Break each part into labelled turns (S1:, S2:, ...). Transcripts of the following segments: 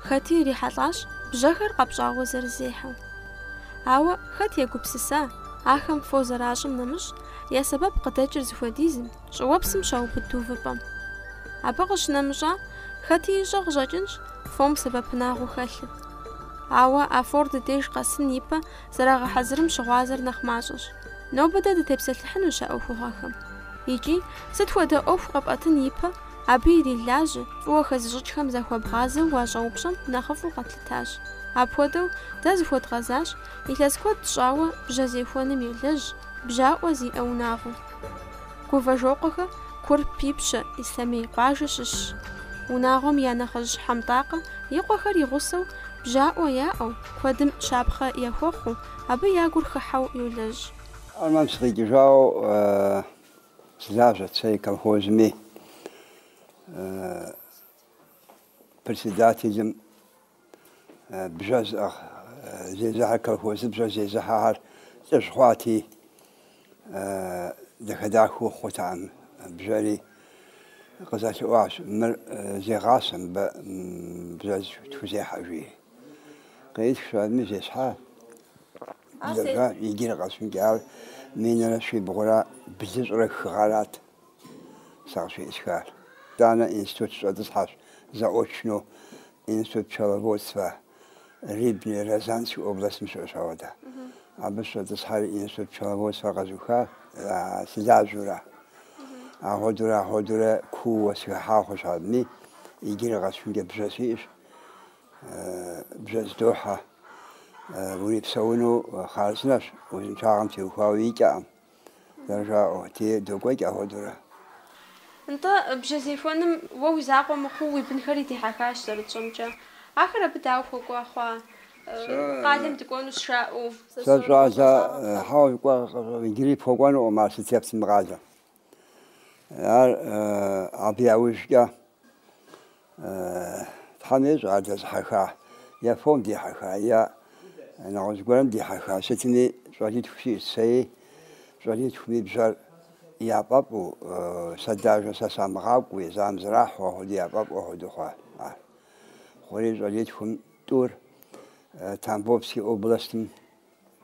S1: Хэти ирихьэлӏащ бжьэхэр къэпщӏауэ зэрызехьэу. Ауэ хэт егупсыса, ахэм фо зэращӏым нэмыщӏ, я сэбэп къыдэкӏыр зыхуэдизым, Щӏыуэпсым щаубыду увыпӏэм. Абы къыщынэмыщӏа, хэти ищӏэ къыщӏэкӏынщ фом сэбэпынагъыу хэлъыр. Ауэ а фор ди деж къэсын ипэ зэрагъэхьэзырым щыгъуазэр нэхъ мащӏэщ. Нобэ дэ дытепсэлъыхьынущ а ӏуэхугъуэхэм. Икӏи, сыт хуэдэ ӏуэху къэпӏэтын ипэ, абы ирилажьэ, фӏыуэ хэзыщӏыкӏхэм захуэбгъазэу уащӏэупщӏэм нэхъыфӏу къэтлъытащ. Апхуэдэу, дэ зыхуэдгъэзащ, илъэс куэд щӏауэ бжьэ зехуэным елэжь, бжьаӏуэ зиӏэ унагъуэу. Гувэжокъуэхэ Курп Ипщэ Ислъэмей къуажэ щыщщ. Унагъуэм я нэхъыжь Хьэмтӏакъэ и къуэхэр и гъусэу бжьаӏуэ яӏэу, куэдым щапхъэ яхуэхъуу, абы я гур хыхьэу йолэжь. Армэм сыкъикӏыжауэ сылажьэт сэри колхозми председателым. Бжьэ зезыхьэ, колхозыр бжьэ зезыхьэхэр лӏыжь хъуати, дахэ-дахэу хъутэкъым. Бжьэри къызэлъэӏуащ, мыр зегъасэ мыбэ бжьэ тхузехьэ, жи. Къитщ абыми зесхьа, лэжьащ, иджыри къэсыхункӏэ, ар минрэ щибгъурэ блыщӏрэ хы гъэрат. Сэ къыщыӏысхар. Итӏанэ институт сыщӏэтӏысхьащ заочно Институт пчеловодства Рыбный Рязанской областым щыӏэщ ауэдэ. Абы сыщӏэтӏысхьэри Институт пчеловодства къэзуха сылажьэурэ. Ахуэдурэ ахуэдурэ кууэ сыхыхьа хъуащ абыми. Иджыри къэсыхункӏэ бжьэ сиӏэщ. Бжьэ здохьэ. Урипсэуну хъарзынэщ, узыншагъэм теухуауэ икӏэкъым. Зэрыжаӏэу, те докӏуэкӏ ахуэдурэ. Нтӏэ, бжьэзехуэным уэ уи закъуэ мыхъуу уи бынхэри дихьэхащ, зэрытщӏэмкӏэ. Ахэр абы дауэ хуэкӏуэ хъуа? Къалэм дыкӏуэнущ жаӏэу. Сэ щӏалэ хьэуэ жыкӏуэ иджыри пхуэкӏуэнукъым ар сытепс мы къалэм. Ар абы яужкӏэ Тхьэм ещӏэ ар дэзыхьэха, е фом дихьэха, е нэгъуэщӏ гуэрым дихьэха, сытми щӏалитху сиӏэщ сэри, щӏалитхуми бжьэр яфӏэфӏу, сэ даже, сэ самыгъакӏуи, езым зэрахьэу ахуэду яфӏэфӏу хуэду хъуа ар. Хъури щӏалитхум тӏур Тамбовский областым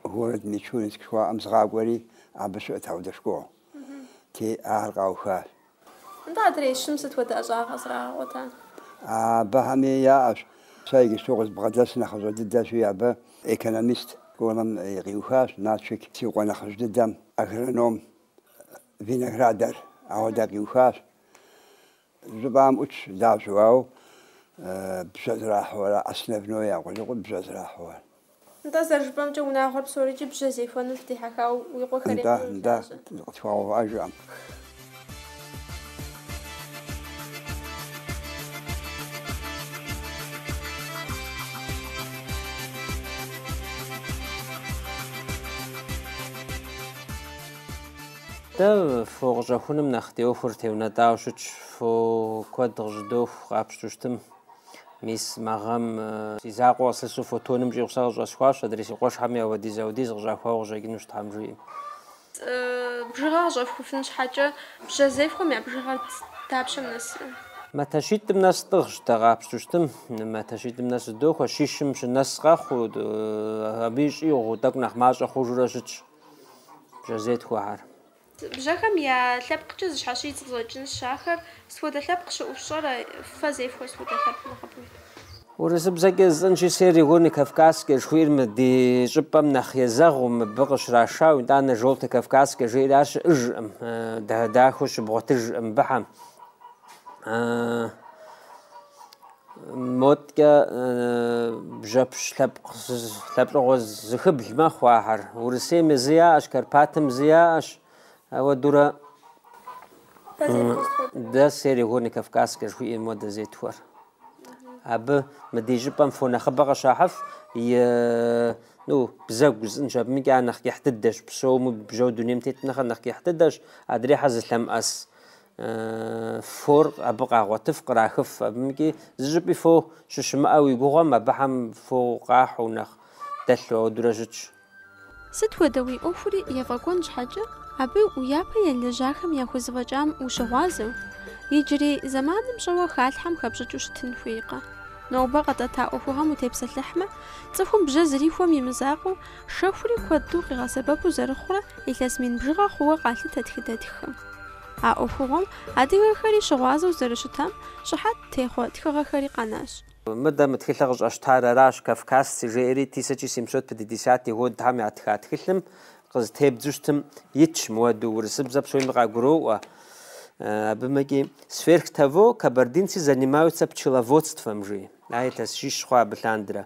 S1: город Мичуринск жыхуаӏэм згъакӏуэри, абы щыӏэт аудэ школ, ти ар къауха. Нтӏэ, адрей щым сыт хуэдэ ӏэщӏагъэ къызэрагъэгъуэта? Абыхэми яӏэщ. Сэ иджыпсту къызбгъэдэс нэхъыщӏэ дыдэщи, абы экономист тӏуным и къиухащ, Налшык си къуэ нэхъыжь дыдэм, агроном виноградарь ауэдэ къиухащ. Лэжьапӏэм ӏутщ лажьэу, ауэ бжьэ зэрахьэу аращ, основной я къулыкъур бжьэ зэрахьэу ар. Нтӏэ, зэрыжыпӏэмкӏэ, унагъуэр псорикӏи бжьэ зехуэну дихьэхауэ уи къуэхэр еплъурэ Нтӏэ, нтӏэ, лажьэ. къытхуэгъэувыӏэж жыӏэм. Дэ фо къыщӏэхуным нэхъ ди ӏуэхур теунэтӏауэ щытщ, фо куэд къыщӏыдоху къапщту щытым. Мис мы гъэм си закъуэ къыслъысу фо тонным щӏигъу сэ къыщӏэсхуащ, адрей си къуэшхьэми ауэдиз-ауэдиз къыщӏахуауэ къыщӏэкӏынущ Тхьэм жиӏэм. Бжыгъэ къыщӏэфхуфын щхьэкӏэ бжьэ зефхуэм я бжыгъэр дапщэм нэсрэ? Матэщитӏым нэс тӏыгъщ, дэ къапщту щытым, матэщитӏым нэс зыдохуэ, щищым щынэс къэхъуу, абы и щӏигъуу, тӏэкӏу нэхъ мащӏэ хъужурэ щытщ бжьэ зетхуэхэр. Бжьэхэм я лъэпкъкӏэ зэщхьэщыкӏыу къыщӏэкӏынщ ахэр. Сыт хуэдэ лъэпкъ щыӏэу пщӏэрэ? Фэ зефхуэр сыт хуэдэ лъэпкъ нэхъыбэу щытыпхъур? Урысыбзэкӏэ жысӏэнщи, Серэ горнэ кавказскэ жыхуиӏэр мы ди щӏыпӏэм нэхъ езэгъыу, мыбы къыщрашауэ, итӏанэ Желтый Кавказскэ жеӏэри ар щыӏэжкъым, дахэу щыбгъуэтыжкъым быхьэм. Моткӏэ бжьэпщ лъэпкъ лъэпкъыгъуэ зыхыбл мэхъу ахэр. Урысейми зы яӏэщ, Карпатым зы яӏэщ. Ауэдурэ дэ Серэ горнэ кавказскэ жыхуиӏэ мо дэ зетхуэр. Абы мы ди щӏыпӏэм фо нэхъыбэ къыщахьыф, ну, бзэгу жысӏэнщ, абымкӏэ ар нэхъ кӏыхь дыдэщ, псоми бжьэу дунейм тетым нэхърэ нэхъ кӏыхь дыдэщ, адрейхьэр зылъэмыӏэс. фор абы къагъуэтыф, кърахыф. Абымкӏи зы щӏыпӏи фо щыщымыӏэу уи гугъуэм, абыхэм фо къахьу нэхъ дэлъу ауэдурэ щытщ. Сыт хуэдэ уи ӏуэхури ефӏэкӏуэн щхьэкӏэ, абы уи япэ елэжьахэм яхузэфӏэкӏам ущыгъуазэу, иджырей зэманым щӏэуэ халъхьэм хэпщӏыкӏыу щытын хуейкъэ? Нобэ къэтӏэта ӏуэхугъэм утепсэлъыхьмэ, цӏыхум бжьэ зрихуэм и мызакъуэу, Шэхури куэду къигъэсэбэпу зэрыхъурэ илъэс мин бжыгъэ хъууэ къалъытэ тхыдэтххэм. А ӏуэхугъуэм адыгэхэри щыгъуазэу зэрыщытам щыхьэт техъуэ тхыгъэхэри къэнащ. Мыдэ мы тхылъыр къыщӏэсщтар аращ, кавказцы жеӏэри тысяча семьсот пятидесятый годхьэм ятха тхылъым къызытебдзу щытым итщ, мыуэду урысыбзэ псоми къагуроӏуэ. Абымкӏи Сверх того, кабардинцы занимаются пчеловодством жи, а илъэс щищ хъуа абы лъандэрэ.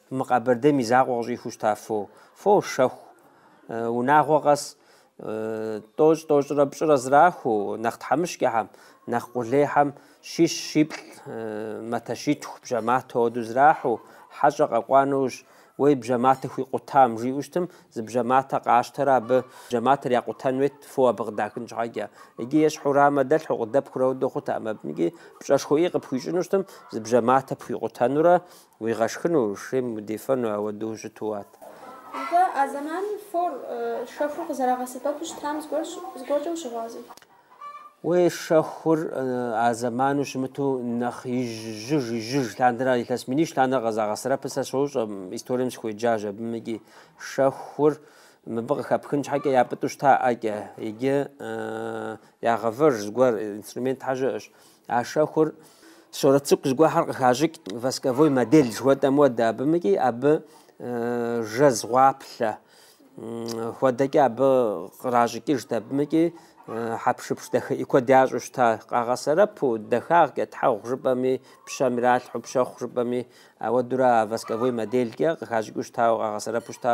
S1: Мы Къэбэрдейм и закъуэ къыщӏихыу щыта фо? Фо, шэху. Унагъуэ къэс. Тӏощӏ, тӏощӏрэ пщӏырэ зрахуэу, нэхъ тхьэмыщкӏэхэм, нэхъ къулейхэм щищ щиплӏ, матэщитху, бжьэматэ хуэдэу зрахьу, хьэщӏэ къэкӏуа нэужь, уей бжьэматэ хуикъутам, жиӏэу щытым, зы бжьэматэ къащтэрэ абы бжьэматэр якъутэн хуейт, фо абы къыдахын щхьэкӏэ. Иджы ещхьу рамэ дэлъхьу, къыдэпхыурэ хуэдэу хъутэкъым абыкӏи. Пщӏэшхуэӏий къыпхуищӏыну щытым, зы бжьэматэ пхуикъутэнурэ Уигъэшхыну, шейм удефэну ауэдэу щыту ат. Нтӏэ, а зэманым фор шэхур къызэрагъэсэбэпу щытам зыгуэркӏэ ущыгъуазэ. Уей, шэхур а зэману щымыту нэхъ ижьыж, ижьыж лъандэрэ ар илъэс минищ лъандэрэ къэзагъэсэрэпыр сэ сощӏэ, историем сыхуеджащ абымыкӏи. Шэхур мыбы къыхэпхын щхьэкӏэ япӏытӏу щыта ӏэкӏэ, иджы ягъэвэж зыгуэр, инструментхьэ щыӏэщ. А шэхур сурэт цӏыкӏу зыгуэхьэр къыхащӏыкӏ восковой модель жыхуэтӏэм уэдэ, абымыкӏи абы жэз гъуаплъэ хуэдэкӏэ абы къращӏыкӏыжт, абымыкӏи хьэпшыпш дахыӏи куэд ящӏу щыта, къагъэсэрэпу, дахагъкӏэ, тхьэгъу жыпӏэми, пщэм иралъхьу, пщэхъу жыпӏэми, ауэдурэ а восковой моделькӏэ къыхащӏыкӏыу щытауэ, къагъэсэрэпу щыта.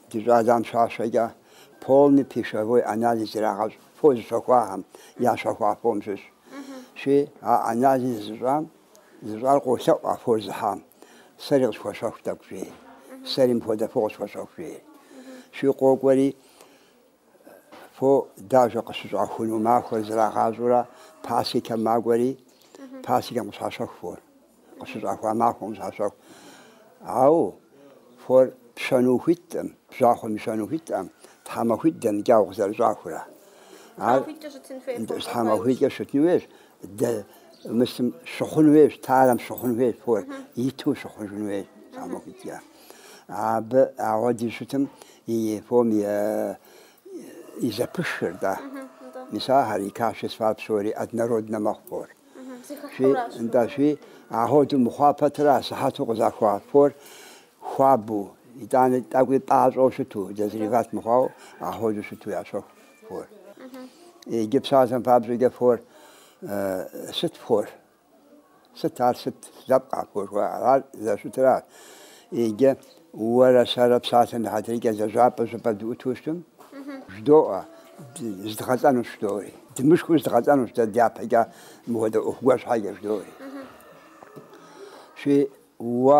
S1: Ди щӏалам щащэкӏэ, полный пищевой анализ ирагъэщӏ фо зыщэхуахэм ящэхуа фом щыщ. Щи, а анализ зыщӏам, зыщӏар къолъэӏу а фор зыхьам, Сэри къысхуэщэху тӏэкӏу, жери, Сэри мыпхуэдэ фо къысхуэщэху, жери. Щи, къокӏуэри. Фо дажэ къыщыщӏахуну махуэр зрагъащӏэурэ пасекэм макӏуэри, пасекэм къыщащэху фор. Къыщыщӏахуа махуэм къыщащэху. Ау фор пщэну хуиткъым, бжьахъуэм ищэну хуиткъым, тхьэмахуитӏ дэмыкӏау къызэрыщӏахурэ. Ар тхьэмахуитӏкӏэ щытын хуей фор. тхьэмахуитӏкӏэ щытын хуейщ, дэ мысым щыхъун хуейщ, тарэм щыхъун хуейщ фор, иту щыхъужын хуейщ тхьэмахуитӏкӏэ. Абы апхуэдиз щытым и фом и зэпышхыр, да. Мис ахэр и качествар псори однороднэ мэхъу фор. Да, щи апхуэду мыхъуа пэтрэ асыхьэту къызахуа фор хуабу, итӏанэ тӏэкӏуи пӏащӏэу щыту, дозревать мыхъуау апхуэду щыту ящэху фор. Иджы псалъэм папщӏэкӏэ фор сыт фор? Сыт ар, сыт лъэпкъ апхуэдэ жыхуаӏэр? Ар зэщытыр арщ, иджы уэрэ сэрэ псалъэм и хьэтыркӏэ лэжьапӏэ щӏыпӏэ дыӏуту щытым, жыдоӏэ, зыдгъэлӏэнущ жыдоӏэри. Дымышхыу зыдгъэлӏэнущ дэ дяпэкӏэ мыхуэдэ ӏуэху гуэр щхьэкӏэ жыдоӏэри. Щи, уэ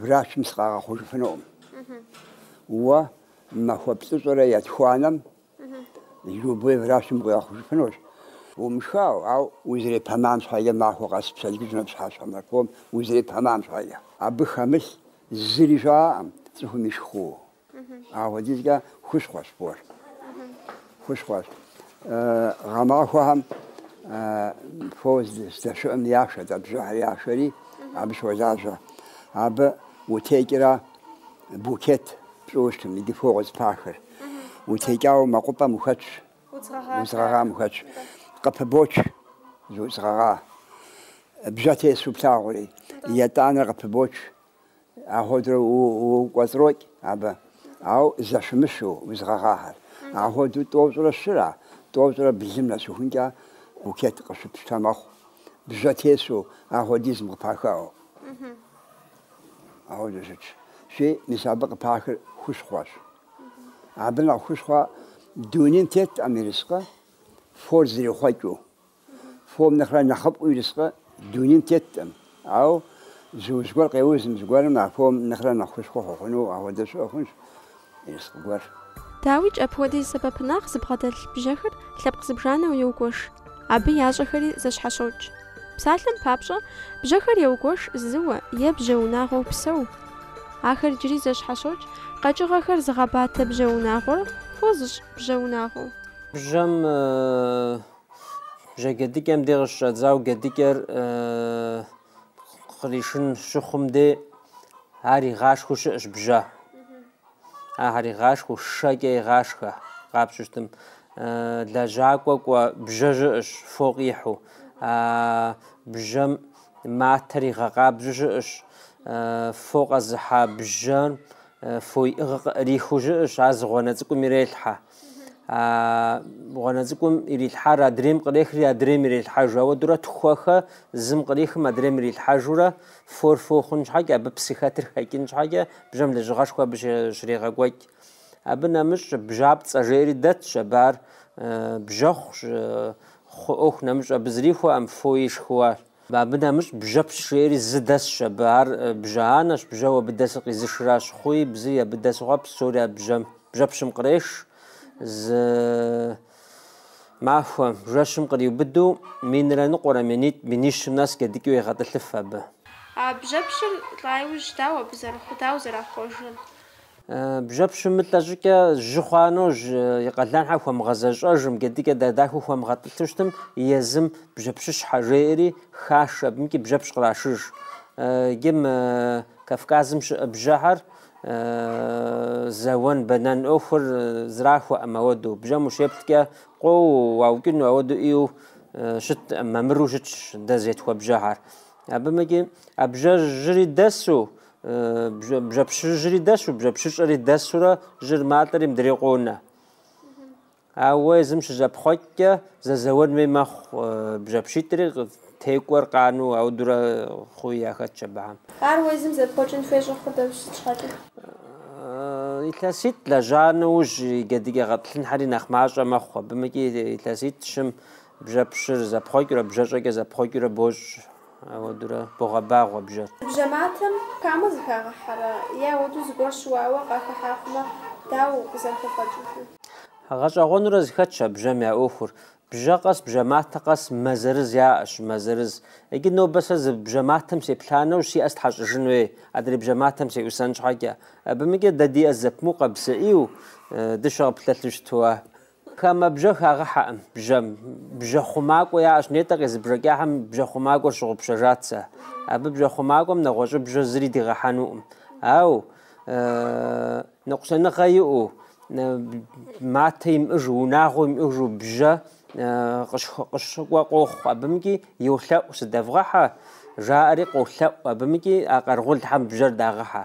S1: Врачым сыкъагъэхъужыфынукъым. Уэ махуэ плӏыщӏэрэ етхуанэм любой врачым укъигъэхъужыфынущ. Умышхау, ау узрепэмам щхьэкӏэ махуэ къэс пщэдджыжьымрэ пщыхьэщхьэмрэ фом узрепэмам щхьэкӏэ. Абы хэмылъ зыри щыӏэкъым цӏыхум ишху Апхуэдизкӏэ хущхъуэщ фор. Хущхъуэщ. Гъэмахуэхэм фо здэщыӏэм яшэ, дэ бжьэхэр яшэри, абы щолажьэ. Абы утекӏрэ букет пщӏыуэ щытым, иди фо къызпахыр. Утекӏауэ мэкъупӏэм ухэтщ, удз гъэгъам ухэтщ. Къыпыбоч зы удз гъэгъа. Бжьэ тесу плъагъури, етӏанэр къыпыбоч, Апхуэдэурэ укӏуэцӏрокӏ абы, ауэ зэщымыщу удз гъэгъахэр. Апхуэдэу тӏощӏрэ щырэ, тӏощӏрэ блым нэсыхункӏэ букет къыщыпщтэ мэхъу, бжьэ тесу апхуэдизым къыпахыу. Ахуэдэу щытщи, мис абы къыпахыр хущхъуэщ. Абы нэхъ хущхъуэ дунейм теткъым ерыскъы, фор зрихъуэкӏыу. Фом нэхърэ нэхъыфӏу ерыскъы дунейм теткъым. Ау зы уз гуэр къеузым, зыгуэрым а фом нэхърэ нэхъ хущхъуэ хуэхъуну ахуэдэ щыӏэ хъунщ ерыскъы гуэр. Дауикӏ, апхуэдиз сэбэпынагъ зыбгъэдэлъ бжьэхэр лъэпкъ зыбжанэу еугуэш, абы ящӏэхэри зэщхьэщокӏ. Псалъэм папщӏэ, бжьэхэр еугуэш зыуэ е бжьэ унагъуэу псэу. Ахэр иджыри зэщхьэщокӏ, къэкӏыгъэхэр зыгъэбатэ бжьэ унагъуэр фо зыщӏ бжьэ унагъуэу. Бжьэм бжьэ гедыкӏэм де къыщыщӏэдзау гедыкӏэр къришын щыхъум де ар игъашхэу щыӏэщ бжьэ. Ахэр игъашхэу шэкӏэ игъашхэ къапщтэу щытым. Лэжьакӏуэ кӏуэ бжьэ щыӏэщ фо къихьу. Бжьэ матэр игъэкъабзу щыӏэщ. Фо къэзыхьа бжьэм фо иӏыгъ къыӏэрихыу щыӏэщ, ар зы гъуанэ цӏыкӏум ирелъхьэ. гъуанэ цӏыкӏум ирилъхьар адрейм кърехри адрейм ирилъхьэжу ауэдурэ тхуэхэ зым кърихым адрейм ирилъхьэжурэ фор фо хъун щхьэкӏэ абы псы хэтыр хэкӏын щхьэкӏэ бжьэм лэжьыгъэшхуэ абы щрегъэкӏуэкӏ абы нэмыщӏ бжьапцӏэ жери дэтщ абы ар бжьэхъущ хъу ӏуэху нэмыщӏ абы зрихуэӏэм фо ишхыуащ Абы нэмыщӏ бжьэпщ жери зы дэсщ абы. Ар бжьэ анэщ, бжьэу абы дэсыр къизышращ. Хъуи, бзи абы дэсу хъуар псори а бжьэм, бжьэпщым къреш. Зы махуэ жэщым къриубыду, минрэ ныкъуэрэ, минитӏ, минищым нэс джэдыкӏэу егъэтӏылъыф абы. А бжьэпщыр лӏа иужь дауэ абы зэрыхъур дауэ зэрахъуэжыр. Бжьэпщыр мылӏэ щӏыкӏэ жьы хъуа нэужь и къалэнхьэ хуэмыгъэзэщӏэжым, гэдыкӏэ дадахыу хуэмыгъэтӏылъу щытым, езым бжьэпщыщхьэ жеӏэри хаш, абымкӏи бжьэпщ кърашыж. Иджы мы Кавказым щыӏэ бжьэхэр зэуэн, бэнэн ӏуэхур зэрахуэӏым ауэду. Бжьэм ущеплъкӏэ къоуэу уаукӏыну ауэду ӏейуэ щытӏым, мамыру щытщ дэ зетхуэ бжьэхэр. Абымыкӏи а бжьэ жьыри дэсу Бжьэпщыжьри дэсу, бжьэпщыщӏэри дэсурэ жьыр малӏэри мыдрей къонэ. Ауэ езым щызэпхъуэкӏкӏэ зэзэуэн хуей мэхъу бжьэпщитӏри текӏуэр къану аудурэ хъуи яхэтщ абыхэм. Ар уэ езым зэпхъуэкӏын хуей щӏэхъур сыт щхьэкӏэ? Илъэситӏ лэжьа нэужь и джэдыкӏэ гъэтӏылъынхьэри нэхъ мащӏэ мэхъу. Абымыкӏи илъэситӏ-щым бжьэпщыр зэпхъуэкӏыурэ, бжьэщӏэкӏэ зэпхъуэкӏыурэ бощӏ. Ауэдурэ богъэбагъуэ бжьэр. Бжьэ матэм хамэ зыхагъэхьэрэ? Е ауэду зыгуэр щыуауэ къахыхьа хъумэ, дауэ укъызэрыхэфӏэкӏыжыр? Гъэщӏэгъуэнурэ зыхэтщ а бжьэм я ӏуэхур. Бжьэ къэс, бжьэ матэ къэс мэ зырыз яӏэщ, мэ зырыз. Иджы нобэ сэ зы бжьэ матэм сеплъа нэужь си ӏэ стхьэщӏыжын хуей, адрей бжьэ матэм сеӏусэн щхьэкӏэ. Абымыкӏи дэ ди ӏэ зэпымыу къабзэ ӏейуэ, дыщэ къыпылъэлъу щыту а. Хамэ бжьэ хагъэхьэкъым бжьэм. Бжьэ хъумакӏуэ яӏэщ. Нетӏэ къезбжэкӏахэм бжьэ хъумакӏуэр сщыгъупщэжат сэ. Абы бжьэ хъумакӏуэм нэгъуэщӏ бжьэ зыри дигъэхьэнукъым. Ау ныкъусаныгъэ иӏэу, матэ имыӏэжу, унагъуэ имыӏэжу бжьэ къыщыкӏуэ къохъу абымкӏи, йолъэӏу, сыдэвгъэхьэ, жаӏэри къолъэӏу абымкӏи, а къэрэгъулхьэм бжьэр дагъэхьэ.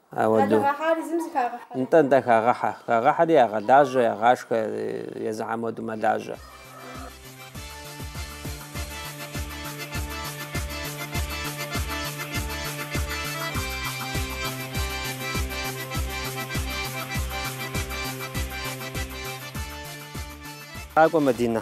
S1: Ауэду. Нтӏэ, нтӏэ, хагъэхьэ. Хагъэхьэри ягъэлажьэ, ягъашхэ, езыхьэм уэду мэлажьэ. Къакӏуэ, Мадинэ.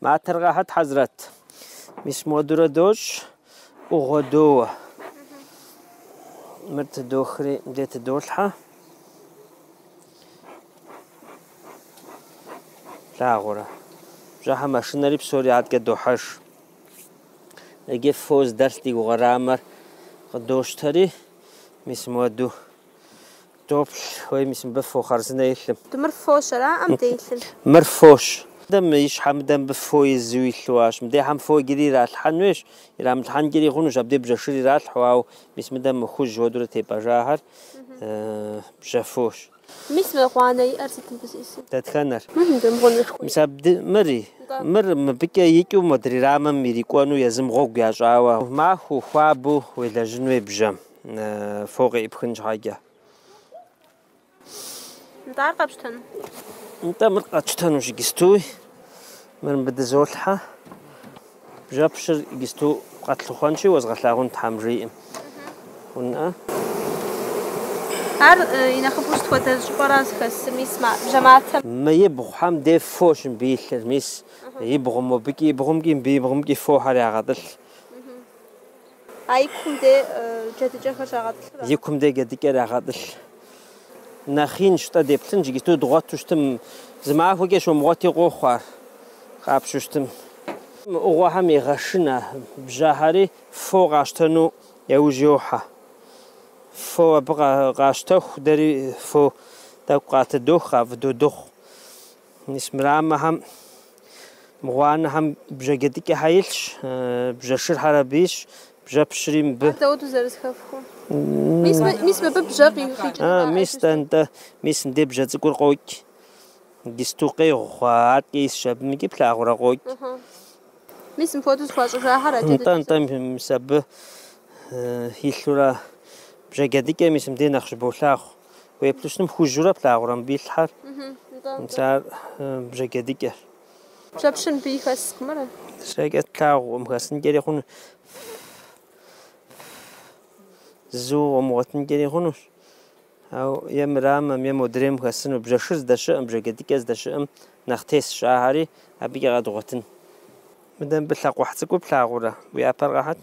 S1: Матэр къахьыт, Хьэзрэт. Мис модурэ дощӏ, ӏугъуэ доуэ. Мыр тыдохри, де тыдолъхьэ. Плъагъурэ? Бжьэхьэр мэшынэри псори адкӏэ дохьэж. Иджы фо здэлъ ди гугъэ рамэр къыдощтэри, мис моду. Доплъ, уей мис мыбы фо хъарзынэ илъым. Тӏэ мыр фощ, араӏэ, мыде илъыр? Мыр фощ. Дэм и щхьэ мыдэ мыбы фо изу илъу ащ. Мыдехьэм фо иджыри иралъхьэн уейщ, ирамылъхьэнкӏири хъунущ, абдей бжьэ шыр иралъхьу, ауэ мис мыдэм мы хужь уэдурэ тепӏэжахэр бжьэ фощ. Мис мы гъуанэ иӏэр сыт мыбы зезым? Дэтхэнэр? Мыр мыдэм гъуанэр хуей? Мис абды, мыри? Мыр мыбыкӏэ икӏыу модрей рамэм ирикӏуэну езым гъуэгу ящӏауэ. Махуэу, хуабэу уелэжьын уей бжьэм. фо къеӏыпхын щхьэкӏэ. Нтӏэ ар къэпщтэну? Нтӏэ мыр къэтщтэнущ гистуи, мыр мыбы дызолъхьэ. Бжьэпщыр гисту къэтлъыхъуэнщи, уэзгъэлъагъун тхьэм жиӏэм. Унэ. Ар и нэхъыфӏу сыт хуэдэ щӏыпӏэра зыхэсыр, мис бжьэматэм? Мы ибгъухэм де фощ мыбы илъыр, мис ибгъу мобыкӏи ибгъумкӏи мы ибгъумкӏи фохэр ягъэтӏылъ. А и кум дей джэдыкӏэхэр щагъэтӏылъыр? И кум дей джэдыкӏэр ягъэтӏылъ. Нэхъ инщ-тӏэ деплъынщ иджыпсту дгъуэту щытым. Зы махуэкӏэ щомыгъуэти къохъу ар, къапщу щытым. Мы ӏугъуэхэм егъэшынэ бжьэхьэри, фо къащтэну яужь йохьэ. Фо абы къащтэху, дэри фо тӏэкӏу къатыдох, къафӏыдодыгъу. Мис мы рамэхэм, мы гъуанэхэм бжьэджэдыкӏэхэр илъщ, бжьэшырхэр абы исщ, бжьэпщри мыбы. Ар дауэт узэрызэхэфхур? Мис мы, мис мыбы бжьэ къикӏынура? А, мис дэ, нтӏэ, мис мыдей бжьэ цӏыкӏур къокӏ. Гисту къегъу хъуа аткӏэ исщ абы, мыкӏи плъагъурэ къокӏ. Мис мыпхуэдэу зэхуащӏыжахэр а джэдыкӏэщ. Нтӏэ, нтӏэ, мис абы илъурэ бжьэджэдыкӏэ мис мыбдей нэхъ щыболъагъу. Уеплъу щытым хужьурэ плъагъурэ мыбы илъхьэр. Мис ар бжьэджэдыкӏэщ. Бжьэпщыр мыбы хэскъым ара? Зэкӏэ тлъагъукъым, хэсынкӏэри хъуну. Зэуэ къомыгъуэтынкӏэри хъунущ. Ау е мы рамэм, е модрейм хэсыну. Бжьэшыр здэщыӏэм, бжьэджэдыкӏэр здэщыӏэм нэхъ тесщ, ахьэри абыкӏэ къэдгъуэтын. Мыдэ мыбы лъакъуэхь цӏыкӏур плъагъурэ? Уи ӏэпэр къэхьыт?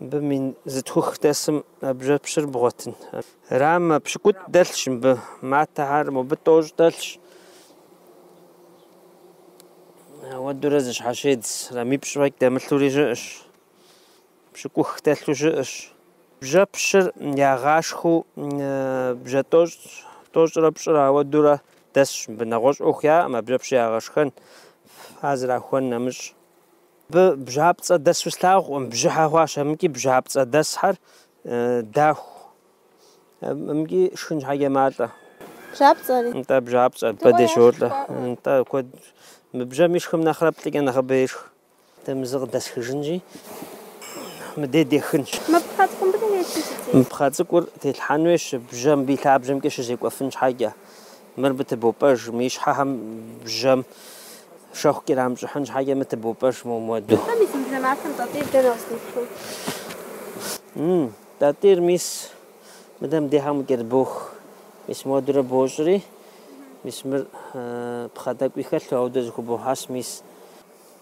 S1: Мыбы мин зытхух дэсым а бжьэпщыр бгъуэтын. Рамэ пщыкӏутӏ дэлъщ мыбы, матэхэр мобы тӏощӏ дэлъщ. Ауэдурэ зы щхьэщедз рамипщӏ фӏэкӏ дэмылъури щыӏэщ. Пщыкӏух дэлъу щыӏэщ. Бжьэпщыр ягъашхэу бжьэ тӏощӏ, тӏощӏрэ пщӏырэ ауэдурэ дэсщ мыбы. Нэгъуэщӏ ӏуэху яӏэм а бжьэпщыр ягъэшхэн, а зэрахуэн нэмыщӏ. Абы бжьапцӏэ дэсу слъагъукъым, бжьыхьэ хъуащ амкӏи бжьапцӏэ дэсхьэр даху. Амкӏи шхын щхьэкӏэ малӏэ. Бжьапцӏэри? Нтӏэ, бжьапцӏэ бэдей щолӏэ. Нтӏэ, куэд. Мы бжьэм ишхым нэхърэ плӏыкӏэ нэхъыбэ ешх. Дэ мы зы къыдэсхыжынщи, мыдей дехынщ. Мы пхъэ цӏыкӏур мыбы телъи сытеху? Мы пхъэ цӏыкӏур телъхьэн хуейщ, бжьэ мыбы и лъабжьэмкӏэ щызекӏуэфын щхьэкӏэ. Мыр мы тыбопӏэж, мы ищхьэхэм бжьэм шэху кърамыщӏыхьын щхьэкӏэ мы тыбопӏэж мы муэду. Тӏэ мис мы бжьэматэм Тӏатӏийр дэнэ къыздиплъу? М-м, Тӏатӏийр мис мыдэ мдехьэм къыкӏэрыбох. Мис муэдурэ бощӏри, мис мыр пхъэ тӏэкӏуи хэлъу, ауэ дэ зыхубохьэс, мис,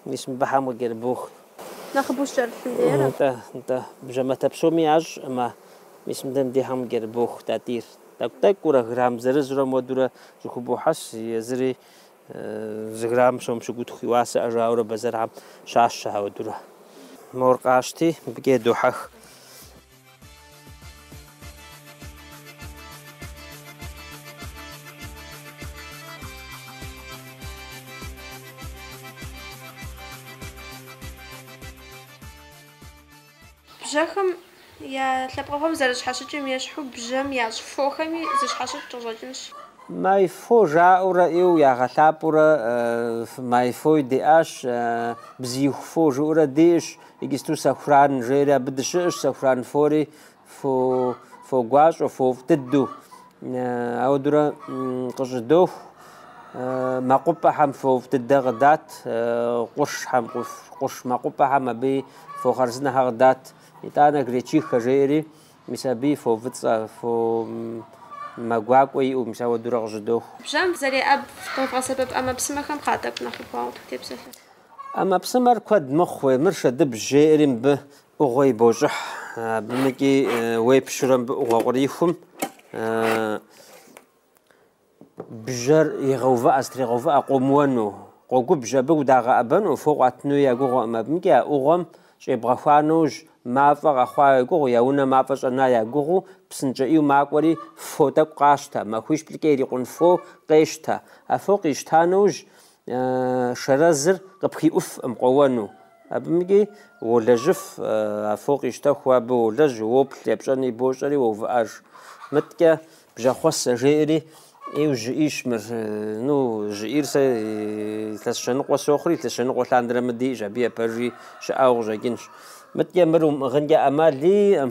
S1: мис мыбыхьэм къыкӏэрыбох. Нэхъыбэу щӏэрылъым лейрэ? Нтӏэ, нтӏэ, бжьэматэ псоми ящӏ, ӏымэ, мис мыдэ мдехьэм къыкӏэрыбох, Тӏатӏийр. Тӏэкӏу-тӏэкӏуурэ, грамм зырызурэ муэдурэ зыхубохьэс, езыри зы грамм сом щыгутху и уасэ жаӏэурэ бэзэрхьэм щащэ ауэдурэ. Мор къащти, мыбыкӏэ едохьэх. Бжьэхэм я лъэпкъыгъуэм зэрыщхьэщыкӏым ещхьу бжьэм ящӏ фохэми зэщхьэщыкӏ къыщӏэкӏынщ. Майфо жаӏэурэ ӏейуэ ягъэлъапӏэурэ майфои диӏащ, бзииху фо жыӏэурэ диӏэщ, иджысту сэхуран жейри абы дыщыӏэщ, сэхуран фори фо гуащӏэу, фофӏ дыдэу. Ауэдурэ къыщӏыдоху мэкъупӏэхэм фофӏ дыдэ къыдат, къуршхэм, къурш мэкъупӏэхэм абы фо хъарзынэхэр къыдат. Итӏанэ гречихэ жеӏэри, мис абы фо фӏыцӏэ, фо мэ гуакӏуэ иӏэу, мис ауэдурэ къыщӏыдоху. Бжьэм фызэреӏэб, къэвгъэсэбэп ӏэмэпсымэхэм хъа тӏэкӏу нэхъ убгъуауэ тепсэлъэ. ӏэмэпсымэр куэд мэхъури, мыр шэдыбжь жеӏэри мыбы ӏугъуэ ибощӏыхь, абымыкӏи уепщурэ мыбы ӏугъуэ кърихум бжэр егъэувыӏэ, зэтрегъэувыӏэ къомыуэну, къогубжь абы удагъэӏэбэну, фо къуатыну я гугъуэкъым, абымыкӏи а ӏугъуэм щӏебгъэхуа нэужь, мафӏэ къэхъуа я гугъу, я унэ мафӏэ щӏэна я гугъуу, псынщӏэ ӏийу макӏуэри фо тӏэкӏу къащтэ, махуищ-плӏыкӏэ ирикъун фо къещтэ. А фо къищта нэужь, Шэрэзыр къыпхиӏуфкъым къоуэну. Абымыкӏи уолэжьыф, а фо къищтэху, абы уолэжь, уоплъ, епщӏэни бощӏэри уоувыӏэж. Мыдэкӏэ бжьэхъуэсэ жеӏэри ӏейу жьы ӏийщ мыр. Ну, жьы ӏийр сэ илъэс щэныкъуэ сохъури, илъэс щэныкъуэ лъандэрэ мы диӏэщ, абы ипэжи щыӏауэ къыщӏэкӏынщ. Мыдэкӏэ мыр умыӏыгъынкӏэ ӏэмал иӏэм.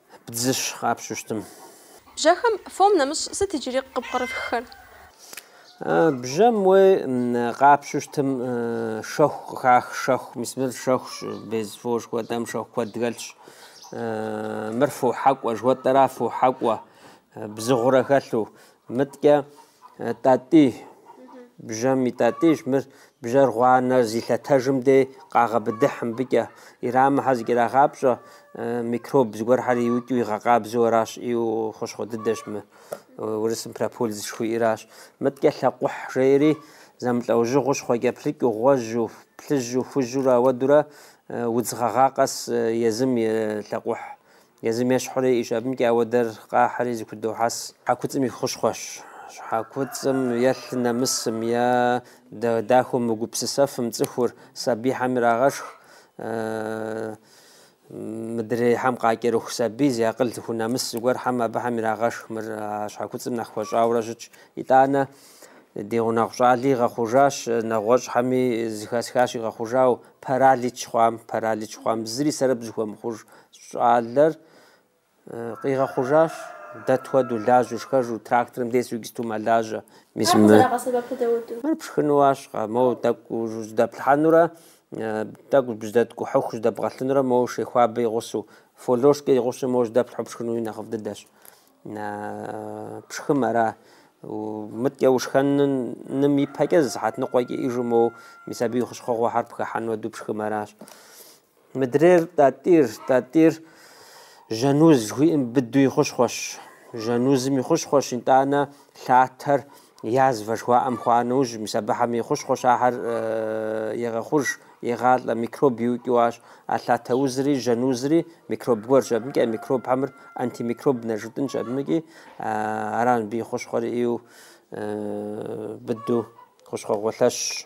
S1: Бдзыщ къапщтэу щытым. Бжьэхэм фом нэмыщӏ сыт иджыри къыпкърыфххэр? Бжьэм уей къапщтэу щытым шэху къыхах, шэху, мис мыр шэхущ, без фо жыхуэтӏэм шэху куэд хэлъщ. Мыр фо хьэкӏуэ жыхуэтӏэра, фо хьэкӏуэ бзыгъурэ хэлъу. Мыткӏэ тӏатӏи, бжьэм и тӏатӏищ, мыр бжьэр гъуанэр зилъэтэжым дей къагъэбыдыхь мыбыкӏэ. Ирамыхьэ зэкӏэрагъапщӏэ, микроб зыгуэрхэр иукӏыу игъэкъабзэу аращ, ӏейуэ хущхъуэ дыдэщ мы, урысым прополис жыхуиӏэращ. Мыткӏэ лъакъухь жеӏэри, зэмылӏэужьыгъуэу щхъуэкӏэплъыкӏэу, гъуэжьу, плъыжьу, хужьурэ ауэдурэ удз гъэгъа къэс езым и лъакъухь Езым ещхьурэ, и щӏыбымкӏэ ауэдэр къахьри зыхудохьэс щхьэкуцӏым и хущхъуэщ. Щхьэкуцӏым е лъы нэмысым е дахэу мыгупсысэфым цӏыхур, сабийхьэм ирагъэшх. Мыдрейхьэм къакӏэрыху сабий зи акъыл зыхунэмыс зыгуэрхэм абыхэм ирагъэшх мыр а щхьэкуцӏым нэхъ хуэщӏауэрэ щытщ. Итӏанэ, ди гъунэгъу щӏали игъэхъужащ, нэгъуэщӏхэми зыхэсхащ игъэхъужау, Паралич хъуам, паралич хъуам, зыри сэрэп зыхуэмыхъуж щӏалэр къигъэхъужащ, дэ тхуэдэу, лажьэу, шхэжу, тракторым тесу гисту мэлажьэ. Мис мы. Мыр пшхынуащ, мо тӏэкӏу жьэдэплъхьэнурэ, тӏэкӏу бжьэдэткӏухьыху жьэдэбгъэлъынурэ, мо шей хуабэ игъусу, фо лошкӏэ игъусу, мо жьэдэплъхьу пшхынуи нэхъыфӏ дыдэщ. На пшхым ара мыткӏэ ушхэным и пэкӏэ зы сыхьэт ныкъуэкӏэ иӏэжу моу мис абы и хущхъуэгъуэхэр пхыхьэн хуэдэу пшхым аращ. Мыдрейр тӏатӏир, тӏатӏир жьэн уз жыхуиӏэм быду и хущхъуэщ. Жьэн узым и хущхъуэщ, итӏанэ лъатэр Язва жыхуаӏэм хъуа нэужь, мис абыхэм и хущхъуэщ ахэр егъэхъуж, егъалӏэ, микроб иукӏыуащ. А лъатэ узри, жьэн узри микроб гуэрщ, абыкӏи а микробхэм мыр антимикроб нэ жытӏынщ, абыкӏи аращ мыбы и хущхъуэр ину быдэу хущхъуэгъуэ лъэщщ.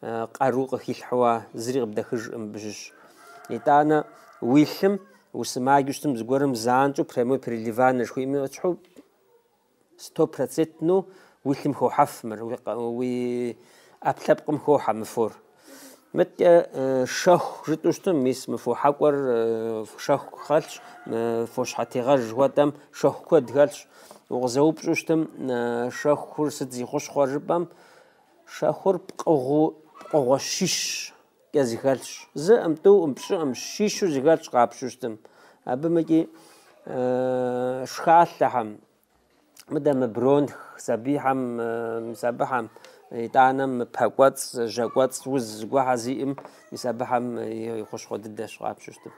S1: къару къыхилъхьуа зыри къыбдэхыжкъым абы щыщ. Итӏанэ уи лъым усымаджу щытым зыгуэрым занщӏэу прямой переливание жыхуиӏэм ещхьу стопроцентну уи лъым хохьэф мыр, уи ӏэпкълъэпкъым хохьэ мы фор. Мыткӏэ шэху жытӏу щытым, мис мы фо хьэкӏуэр шэху хэлъщ, фо щхьэтегъэж жыхуэтӏэм шэху куэд хэлъщ. Укъызэупщӏу щытым, шэхур сыт зи хущхъуэр жыпӏэм, Шэхур пкъыгъуу пкъыгъуэ щищкӏэ зыхэлъщ. Зыӏым, тӏуӏым, пщӏыӏым, щищу зыхэлъщ къапщу щытым. Абымыкӏи шхалъэхэм, мыдэ мы бронх сабийхэм, мис абыхэм итӏанэ мы пэкӏуэцӏ, жьэкӏуэцӏ уз зыгуэхьэ зиӏым, мис абыхэм и хущхъуэ дыдэщ къапщу щытым.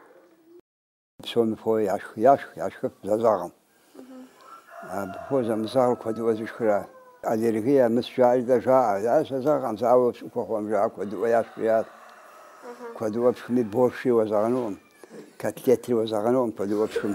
S1: Псоми фо яшх, яшх, яшхыф зэзэгъым. Абы фо зэмызэгъыр куэдыӏуэ зышхыращ. Аллергия мыс жаӏэри дэ жаӏэ. Къызэзэгъкъым, зауэ пщӏыхуэ хъуам жаӏэ куэдыӏуэ яшх жиӏат. Куэдыӏуэ пшхми борщи уэзэгъэнукъым, котлетри уэзэгъэнукъым куэдыӏуэ пшхым.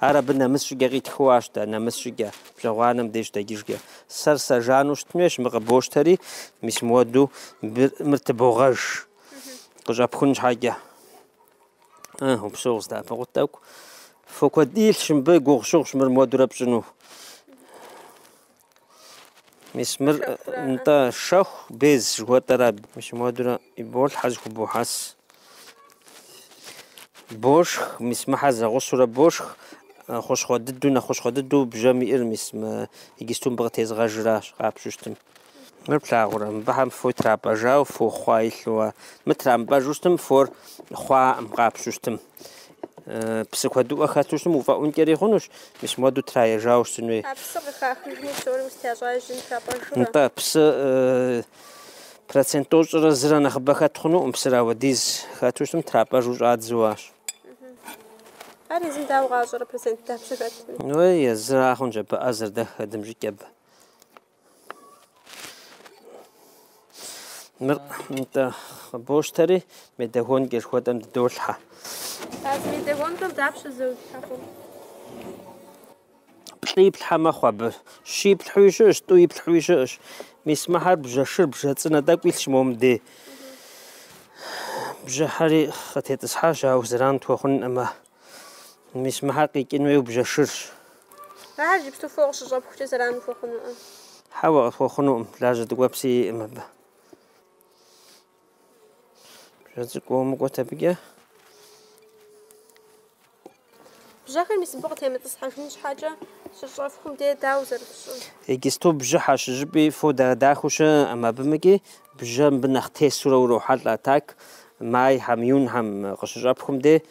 S1: Ар абы нэмыс щӏыкӏэ къитхыу арщ дэ, нэмыс щӏыкӏэ, бжьэгъуанэм деж дэкӏыжкӏэ. Сэр сэ жану щытын хуейщ, мыр къыбощтэри, мис мыуэду мыр тыбогъэж, къыщӏэпхун щхьэкӏэ. Ы, упщӏэу къыздэӏэпыкъут тӏэкӏу. Фо куэд илъщ мыбы, гугъусыгъущ мыр мыуэдурэ пщӏыну. Мис мыр нтӏэ шэху без жыхуэтӏэрэ абы. Мис муэдурэ иболъхьэ, зэхубохьэс. Бошх, мис мыхьэ зэгъусурэ бошх, э, хущхъуэ дыдэу, нэхъ хущхъуэ дыдэу бжьэм иӏэр, мис мы игисту мыбы къытезгъэжращ, къапщту щытым. Мыр плъагъурэ, мыбыхьэм фо трапӏэжауэ, фо хъуа илъу, а мы трамыпӏэжу щытым, фор хъуаӏым, къапщту щытым. Псы куэдыӏуэ хэту щытым уфӏэӏункӏэри хъунущ, мис муэду траежауэ щытын хуей. А псыр къыхахыжми псори устящӏэжын хуяпӏэжурэ? Нтӏэ, псы процент тӏощӏрэ зырэ нэхъыбэ хэт хъунукъым, псыр ауэдиз хэту щытым трапӏэжу щӏадзэу арщ. Ар езым дауэ къащӏэрэ процент дапщэ хэтми? Уей, езыра хъунщ абы ӏэзэр, дэххэ дымыщӏэкӏэ абы. Мыр нтӏэ къыбощтэри, медогонкэ жыхуэтӏэм дыдолъхьэ. А зы медогонкэм дапщэ зэу итлъхьэ хъур? Плӏы иплъхьэ мэхъу абы. Щы иплъхьуи щыӏэщ, тӏу иплъхьуи щыӏэщ. Мис мыхьэр бжьэ шыр, бжьэ цӏынэ тӏэкӏу илъщ мом дей. Бжьэхьэри къытетӏысхьащ, ауэ зэран тхуэхъункъым. Мис мыхьэр къикӏын хуейу бжьэ шырщ. Ахэр иджыпсту фо къыщыщӏэпхукӏэ зэран ухуэхъунукъым. Хьэуэ, къысхуэхъунукъым, лажьэ дыгуэпси иӏым абы. Бжьэ цӏыкӏу умыкӏуэт абыкӏэ. Бжьэхэр мис мыбы къытемытӏысхьэжын щхьэкӏэ щыщӏэфхум де дауэ зэрыпщӏыр? Иджысту бжьыхьэщ, зыщӏыпӏи фо дахэу щыӏэкъым, абымыкӏи бжьэ мыбы нэхъ тесурэ урохьэлӏэ а так майхьэм, июньхьэм къыщыщӏэпхум де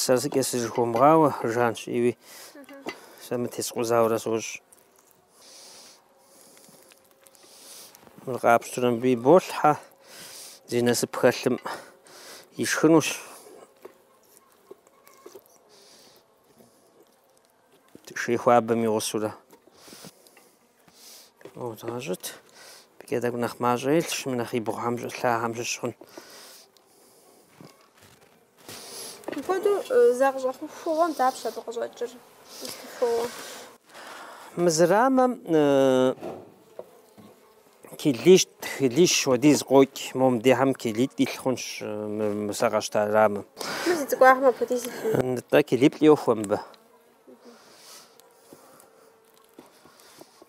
S1: Сэр зыкӏэ сызыхуэмыгъауэ жанщ, иуи сэ мытесхъузауэрэ сощӏ. Мыр къапщтурэ мыбы иболъхьэ зи насып хэлъым ишхынущ. Шей хуабэм и гъусурэ. О, згъэщӏыт. Абыкӏэ тӏэкӏу нэхъ мащӏэ илъщ, мы нэхъ и бгъухэм щӏэлъахьэм щыщ хъун. Мыпхуэдэу зы къыщӏэхугъуэм дапщэ абы къыщӏэкӏыр? Къысхухуэуэ. Мы зы рамэм килищ, килищ хуэдиз къокӏ. Мом дехьэм килиплӏ илъ хъунщ мы сэ къэсщта рамэм. Мы зи цӏыкӏуахэм апхуэдиз илъу. Нтӏэ килиплӏ йохуэ мыбы.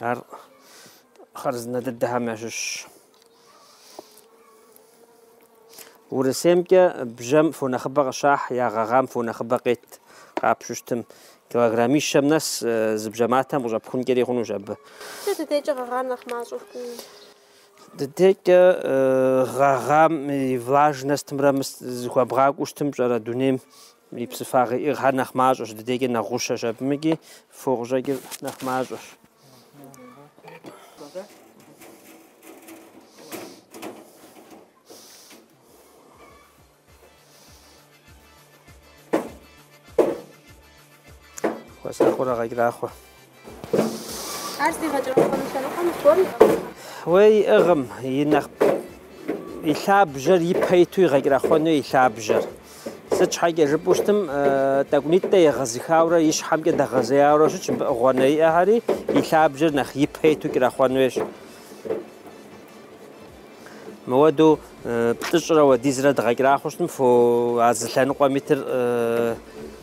S1: Ар хъарзынэ дыдэхэм ящыщ. Урысеймкӏэ бжьэм фо нэхъыбэ къыщахь, я гъэгъам фо нэхъыбэ къет къапщтэу щытым. Килограммищэм нэс э, зы бжьэ матэм къыщӏэпхункӏэри хъунущ абы. Сэ ди декӏэ гъэгъар нэхъ мащӏэу фкӏуи. Ди декӏэ э, гъэгъам и влажностымрэ мыс зыхуэбгъакӏуэу щытым пщӏэрэ дунейм И псыфагъи иӏыгъхэр нэхъ мащӏэщ, ди дейкӏэ нэхъ гъущэщ абымыкӏи фо къыщӏэкӏыр нэхъ мащӏэщ. Хуэсакъыурэ гъэкӏэрахъуэ. Ар зигъэкӏырэхъуэну лъэныкъуэ мыхъур иӏыгъым. Уей, иӏыгъым, и нэхъ и лъабжьэр ипэ иту игъэкӏырэхъуэну и лъабжьэр. Сыт щхьэкӏэ жыпӏэу щытым, тӏэкӏунитӏэ егъэзыхаурэ и щхьэмкӏэ дэгъэзеяуэрэ щытщ, мыбы гъуанэ иӏэхэри и лъабжьэр нэхъ ипэ иту кӏырэхъуэн хуейщ. Мыуэду плӏыщӏрэ уэдизрэ дгъэкӏырахъуэу щытым, фо а зы лъэныкъуэм итыр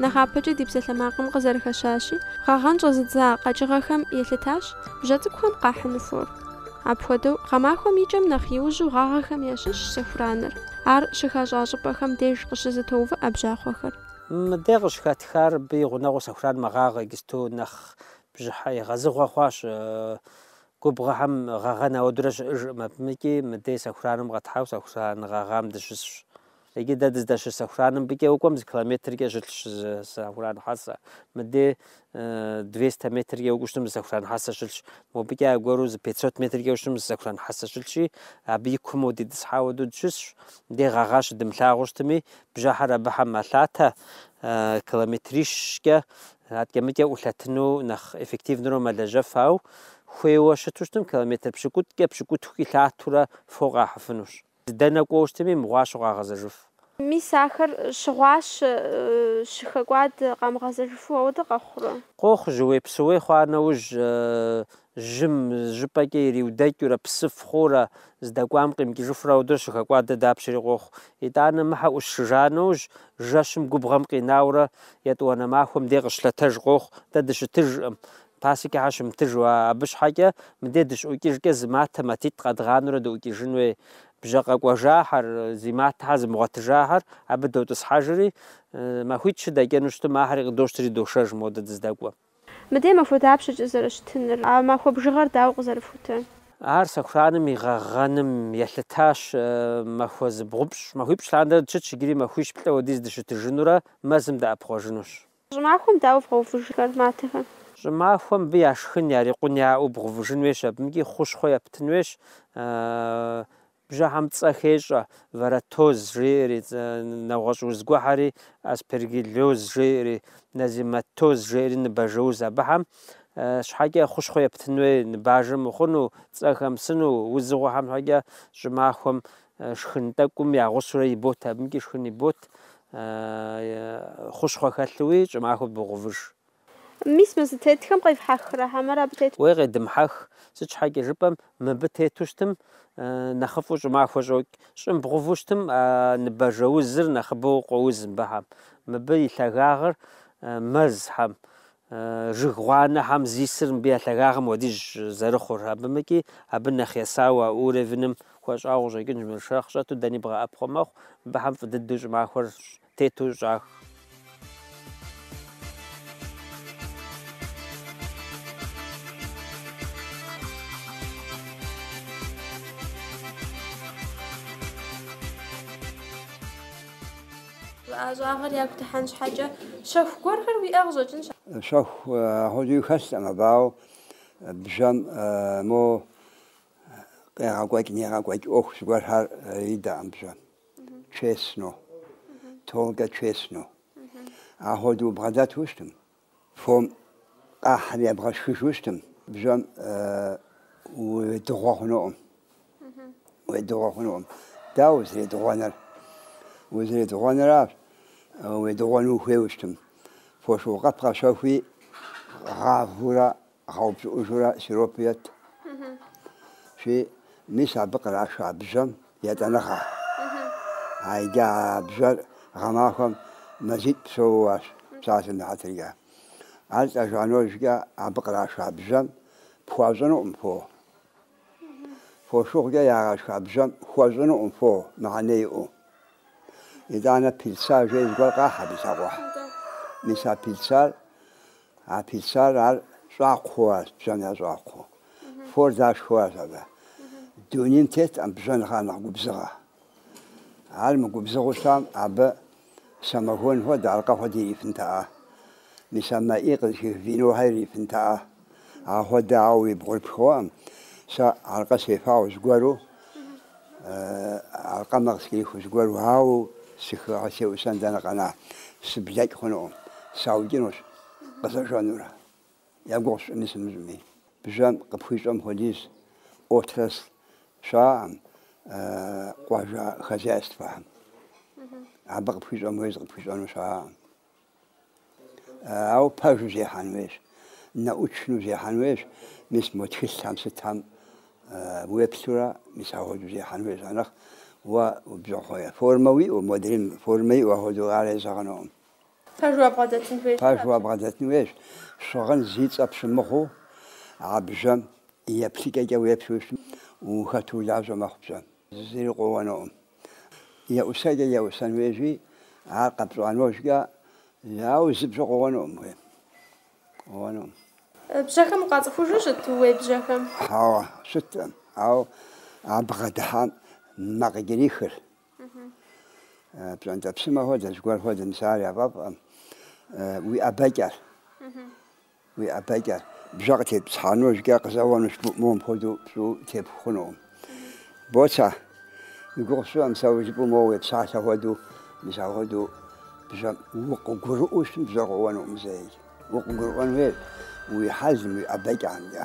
S1: нэхъапэкӏэ ди псалъэмакъым къызэрыхэщащи, гъэгъэн щӏэзыдза къэкӏыгъэхэм елъытащ бжьэ цӏыкӏухэм къахьыну фор. Апхуэдэу, гъэмахуэм и кӏэм нэхъ иужьу гъагъэхэм ящыщщ сэхураныр, ар щыхащӏа щӏыпӏэхэм деж къыщызэтоувыӏэ бжьахъуэхэр. Мы дэ къыщыхэтхар абы и гъунэгъуу сэхуран мэгъагъэ, иджысту нэхъ бжьыхьэ егъэзыгъуэ хъуащ. Губгъуэхэм гъэгъэн ауэдурэ щыӏэжкъым абымыкӏи, мыдей сэхураным къэтхьауэ сэхуран гъэгъам дыщысщ. Иджы дэ дыздэщыс сэхураным абыкӏэ укӏуэм зы километркӏэ щылъщ зы сэхуран хьэсэ. Мыдей двести метркӏэ укӏуэу щытым зы сэхуран хьэсэ щылъщ. Мобыкӏэ аргуэру зы пятьсот метркӏэ ущытым зы сэхуран хьэсэ щылъщи, абы и куум дитӏысхьа уэду дыщысщ. Мыдей гъэгъа щыдымылъагъуу щытми, бжьэхьэр абыхэм мэлъатэ, километрищкӏэ Адэкӏэ-мыкӏэ ӏулъэтыну нэхъ эффективнэурэ мэлэжьэф, ау хуейуэ щыту щытым километр пщыкӏутӏкӏэ, пщыкӏутхукӏи лъатэурэ фо къахьыфынущ. Дэнэ кӏуэу щытми, мыгъуащэу къагъэзэжыф. Мис ахэр щыгъуащэ, щыхэкӏуад къамыгъэзэжыфу ауэдэ къэхъурэ? Къохъу, жьыуей-псыуей хъуа нэужь, жьым зыщӏыпӏэкӏэ ириудэкӏыурэ, псыф хъуурэ, здэкӏуам къимыкӏыжыфурэ ауэдэу щыхэкӏуадэ дапщэри къохъу. Итӏанэ мыхьэ ӏутшыжа нэужь, жэщым губгъуэм къинауэрэ, етӏуанэ махуэм дей къыщылъэтэж къохъу, дэ дыщытыжкъым. Пасекэхэр щымытыжу, а абы щхьэкӏэ мыдей дыщыӏукӏыжкӏэ зы матэ матитӏ къэдгъанэурэ дыӏукӏыжын хуей. Бжьэ къэкӏуэжахэр, зи матэхьэр зымыгъуэтыжахэр абы дотӏысхьэжри, махуитӏ-щы дэкӏыну щытым, ахэри къыдощтри дошэж модэ дыздэкӏуэм. Мыдей махуэ дапщэкӏэ зэрыщытыныр? А махуэ бжыгъэр дауэ къызэрыфхутэр? Ар сэхураным и гъэгъэным елъытащ. Махуэ зыбгъупщӏ, махуипщӏ лъандэрэ дыщытщ, иджыри махуищ-плӏы хуэдиз дыщытыжынурэ мэзым дыӏэпхъуэжынущ. Щӏымахуэм дауэ вгъэувыжхэр матэхэр? Щӏымахуэм мыбы яшхын, ярикъун яӏэу бгъувыжын хуейщ, абымкӏи хущхъуэ ептын хуейщ. Бжьыхьэм цӏэ хещӏэ, варроатоз жеӏэри, нэгъуэщӏ уз гуэрхьэри, аспергиллоз жеӏэри, нозематоз жеӏэри ныбажэуз абыхьэм щхьэкӏэ хущхъуэ ептын хуей ныбажэ мыхъуну, цӏэ хэмысыну, узыгъуэхэм щхьэкӏэ щӏымахуэм шхын тӏэкӏум я гъусэурэ ибот, абымкӏи шхын ибот, хущхъуэ хэлъууи щӏымахуэр богъувыж. Мис мы зытетхэм къевхьэхрэ хьэмэрэ абы тету? Уей, къедымхьэх, сыт щхьэкӏэ жыпӏэм, мыбы тету щытым, нэхъыфӏу щӏымахуэ щӏокӏ, щӏым бгъуву щытым, а ныбажэузыр нэхъыбэу къоуз мыбыхьэм, мыбы и лъагагъыр мэзхьэм, жыг гъуанэхьэм здисыр мыбы я лъагагъым хуэдизщ зэрыхъур, абымыкӏи абы нэхъ есауэ а уровеным хуэщӏауэ къыщӏэкӏынщ, мыр шэрхъ щӏэту дэни бгъэӏэпхъуэ мэхъу, мыбыхьэм фӏы дыдэу щӏымахуэр щӏ тету щӏах. Жыӏащӏагъэр яхутыхьэн щхьэкӏэ, щэху гуэрхэр иӏэ къыщӏэкӏынщ. Щэху апхуэдэуи хэлъкъым, абы, ауэ бжьэм мо къегъэкӏуэкӏ-нэгъэкӏуэкӏ ӏуэху зыгуэрхэр идэкъым бжьэм. честно, только честно. Ахуэдэу бгъэдэту щытым, фом къахьри ебгъэшхыжу щытым, бжьэм уедыгъуэ хъунукъым. Уедыгъуэ хъунукъым. Дауэ узэредыгъуэныр? Узэредыгъуэныращ, уедыгъуэну ухуейуэ щытым, фошыгъу къэп къэщэхуи гъавэурэ Гъэупщӏыӏужурэ сиропу ет. И мис абы къраша бжьэм етӏанэгъэ. А иджы а бжьэр гъэмахуэм мазитӏ псэууащ псалъэм и хьэтыркӏэ. Ар лӏэжа нэужькӏэ абы къраша бжьэм пхуащӏынукъым фо. Фошыгъукӏэ ягъэшха бжьэм хуэщӏынукъым фо мыхьэнэ иӏэу. Итӏанэ пыльца жей зыгуэр къахь абы лъакъуэхь. Мис а пыльцар А пыльцар ар щӏакхъуэу арщ, бжьэм я щӏакхъуэу. Фор дашхыу арщ абы. Дунейм теткъым бжьэм нэхърэ нэхъ губзыгъэ. Ар мыгубзыгъэу щытам, абы самогон хуэдэ, аркъэ хуэдэ ирифынтэӏэ. Мис а мэ ӏей къызыхих винохэр ирифынтэӏэ. Ахуэдэ, ауэ уи бгъур пхуэӏым. Сэ аркъэ сефауэ зыгуэру, Аркъэмэ къыскӏэрихыу зыгуэр, ауэ сыхыхьэу сеӏусэн дэнэ къэна, сыблэкӏ хъунукъым, саукӏынущ къызэжэнурэ. Я гугъу сщӏыми сымыщӏми, бжьэм къыпхуищӏэм хуэдиз отрасль щыӏэкъым, къуажэ хозяйствэхэм. Абы къыпхуищӏэм хуэдиз къыпхуищӏэну щыӏэкъым. Ауэ пэжу зехьэн хуейщ, научнэу зехьэн хуейщ, мис мо тхылъхэм сытхэм уеплъурэ, мис ахуэдэу зехьэн хуейщ. Анэхъ уэ бжьахъуэ формэ уиӏэу, модрейм формэ иӏэу ахуэдэу ар езэгъынукъым. Пэжу абгъэдэтын хуейщ, щыгъын зи цӏэ пщымыгъыу а бжьэм еплъыкӏэкӏэ уеплъу ущытмэ, ухэту улажьэ мэхъу бжьэм. Зыри къоуэнукъым. Еӏусэкӏэ еӏусэн хуейщи, ар къэпщӏа нэужькӏэ, ауэ зы бжьэ къоуэнукъым, хуейм. Къоуэнукъым. Бжьэхэм укъацӏыхужу щыт, ууей бжьэхэм? Хьэуэ, щыткъым, ауэ а бгъэдыхьам мэ къыкӏэрихыр. Пщӏэнтӏэпсымэ хуэдэ, зыгуэр хуэдэ, мис ар яфӏэфӏкъым уи ӏэбэкӏэр. Уи ӏэбэкӏэ бжьэ къытетӏысхьа нэужькӏэ къызэуэнущ, моуэ мыпхуэдэу пщӏыу тепху хъунукъым. Боцэ, уи гугъу сщӏыркъым сэ жыпӏэу моуэ уепсалъэ хуэдэу, мис апхуэдэу бжьэм укъыгурыӏуэу щытмэ бжьэ къоуэнукъым зэи. Укъыгурыӏуэн хуейщ уи хьэлым, уи ӏэбэкӏэмкӏэ.